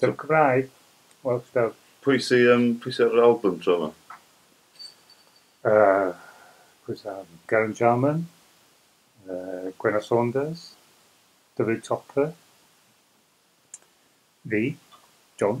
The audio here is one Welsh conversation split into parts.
Fel Cymraeg? Wel fel... Pwy sy yym pwy sy ar yr album tro 'ma? Yy pwy sy ar album? Geraint Jarman, yy Gwenno Saunders, Dyfrig Topper, fi, John.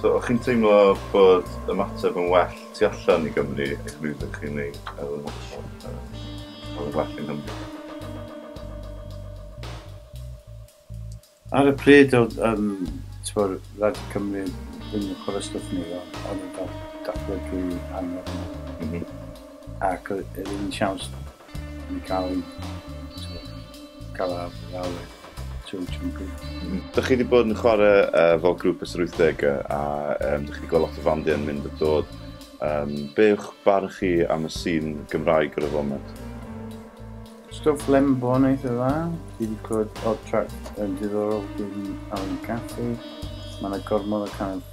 So, o'ch chi'n teimlo bod ymateb yn well tu allan i Gymru ac rwy'n ydych chi'n ei cael yn well yng Nghymru? Ar y pryd oedd um, tyw'r rhaid Cymru ddim yn chwarae stwff ni, ond yn cael datblygu angen. Mm -hmm. Ac oedd yn siawns yn cael ei cael ar lawr trwy Chunku. Dych chi wedi bod yn chwarae uh, fel grŵp ys yr 80au a um, dych chi wedi gweld lot o fandiau yn mynd a dod. Um, be yw'ch barn chi am y sîn Gymraeg ar y foment? Stwff lembo yn eitha dda. Dwi wedi clywed odd track yn diddorol gyda'n Alan Caffey. Mae yna gormod o kind of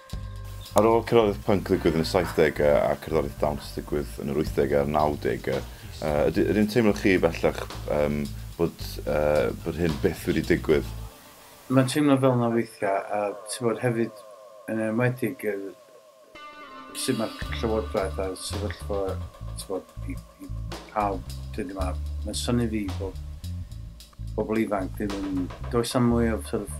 Ar ôl cerddoriaeth punk ddigwydd yn y saithdegau a cerddoriaeth dawns ddigwydd yn yr wythdegau a'r nawdegau, yd- ydyn teimlo chi bellach yym bod yy bod hyn byth wedi digwydd? Mae'n teimlo fel 'na weithiau a tibod hefyd yn enwedig yr sut mae'r llywodraeth a'r sefyllfa tibod i i pawb dyddie 'ma, mae'n synnu fi bod pobl ifanc ddim yn... does 'na mwy o sort of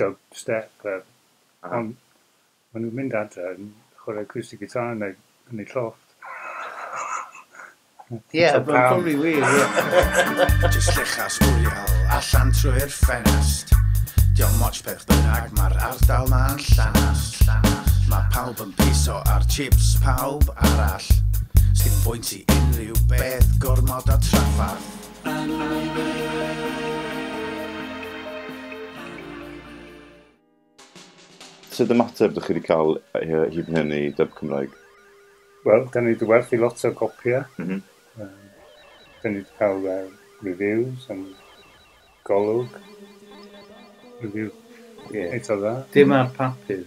dubstep a ond ma' nhw'n mynd adre yn chwarae acoustic guitar yn eu yn eu llofft. Ie, ma'n probably wir, ie. Jyst llechas oriel allan trwy'r ffenast. Diolch moch beth bynnag, mae'r ardal ma'n llanast. Mae pawb yn piso ar chips pawb arall. Sdim bwynt i unrhyw beth gormod o traffarth. Sut ymateb dych chi wedi cael hyd yn hyn i Dub Cymraeg? Wel, dan ni wedi werthu lot o gopïau. Dan ni wedi cael reviews yn Golwg. Review eitha dda. Dim ar papur,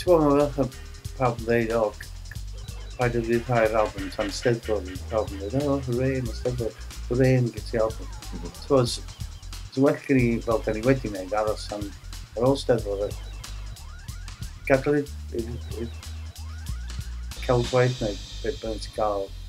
T'bo ma' fel ch'od pawb yn ddeud o c- c- paid â ryddhau'r albym tan Steddfod a pawb yn ddeud o hwrê ma' Steddfod, hwrê ma' gen ti albym. M-hm. T'bo s- so well gen i fel 'dan ni wedi neud aros tan ar ôl Steddfod a gadal i- i'r i'r celf waith neud be' bynnag ti ga'l.